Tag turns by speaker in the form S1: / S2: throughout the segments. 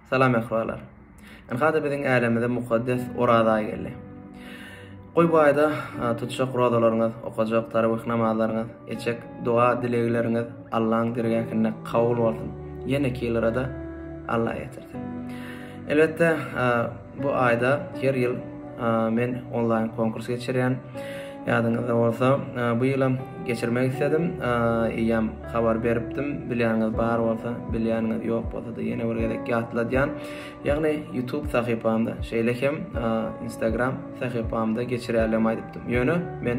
S1: Salam Möhrolar. Ynha-da biziň älemize mukaddes Oraz aýy geldi. Goý bu aýda tutjak rozalaryňyz, okajak tarawih namazlaryňyz, etjek doga-dilegleriňiz Allaň dergähinde kabul bolsun. Ýeneki ýylara-da Alla getirsin. Elbetde, Bu aýda her ýyl men onlaýn konkurs geçirýän. Ýadyňyzda bolsa, bu ýylam geçirmek isledim. Eýýäm habar beripdim. Bilýäniňiz bar bolsa, bilýäniňiz ýok bolsa-da ýene bir gezek ýatladýan. Ýagny YouTube sahypamda, şeýle hem Instagram sahypamda geçirýärligimi aýdypdym. Ýöne men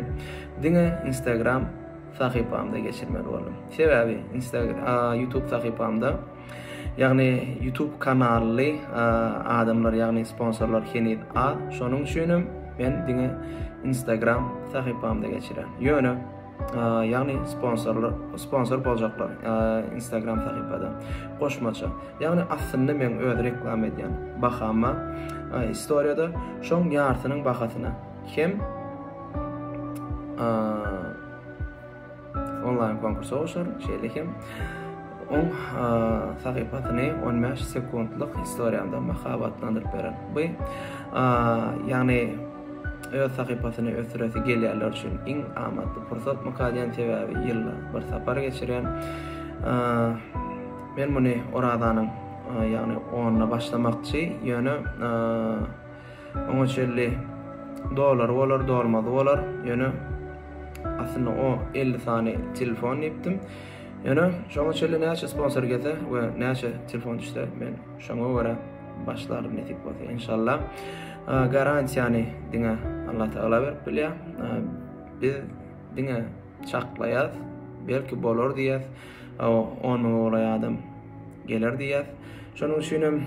S1: diňe Instagram sahypamda geçirmeli boldum. Sebäbi Instagram, YouTube sahypamda Ýagny YouTube kanaly adamlar ýagny sponsorlar heniz az. Şonuň üçin hem men diňe Instagram sahypamda geçirýän. Ýöne ýagny sponsorlar sponsor boljaklar Instagram sahypada. Goşmaça. Ýagny aslynda men öz reklam edýän bahama istoriýada şoň ýartynyň bahasyna hem onlaýn konkursa goşar, şeýle hem oň sahypasyny 15 sekuntlyk istoriýanda mahabatlandyryp berer. Bu ýagny öz sahypasyny ösdüresi gelýänler üçin iň amatly pursat mukadden sebäbi ýylda bir sapar geçirýän. Men muny Orazanyň ýagny onda başlamakçy, ýöne Oňa çenli dolary bolar, dolmazy bolar. Ýöne aslynda o 50 sany telefon diýipdim. Ýöne şoňa çenli näçe sponsor gelse we näçe telefon düşse, men şoňa görä başlarym nesip bolsa inşallah. Garantiýany diňe Allah Taala berip bilýär. Biz diňe çaklaýas, belki bolar diýýäs. On müňe golaý adam geler diýýär. Şonuň üçin hem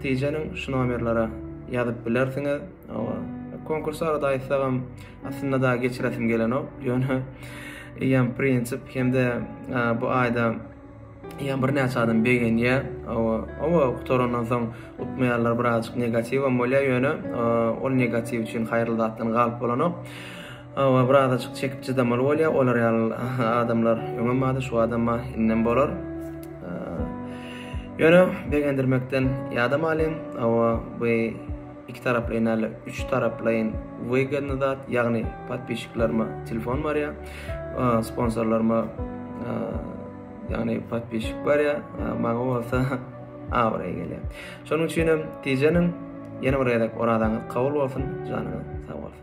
S1: tijeniň şu nomerlere ýazyp bilersiňiz. Konkurs barada aýtsagam, aslynda da geçiresim gelenok. Ýöne eýýäm prinsip hem-de bu aýda eýýäm birnäçe adam begenýär. Oba gutarandan soň utmaýarlar, birazajyk negatiwem bolýar, ýöne ol negatiw üçin haýyrly zatdan galyp bolanok. Hawa birazajyk çekip çydamaly bolýa olar ýaly adamlar öňem bardy şu adamma indem bolar. Ýöne begendirmekden ýadam alyň. Hawa bu iki taraplaýyn näle üç taraplaýyn wygodny zat ýagny podpischiklaryma telefon barýa sponsorlaryma ýagny podpisçik barýa maňa bolsa abraý gelýä şonuň üçin hem tijeniň ýene bir gezek orazaňyz kabul bolsun janyňyz sag bolsun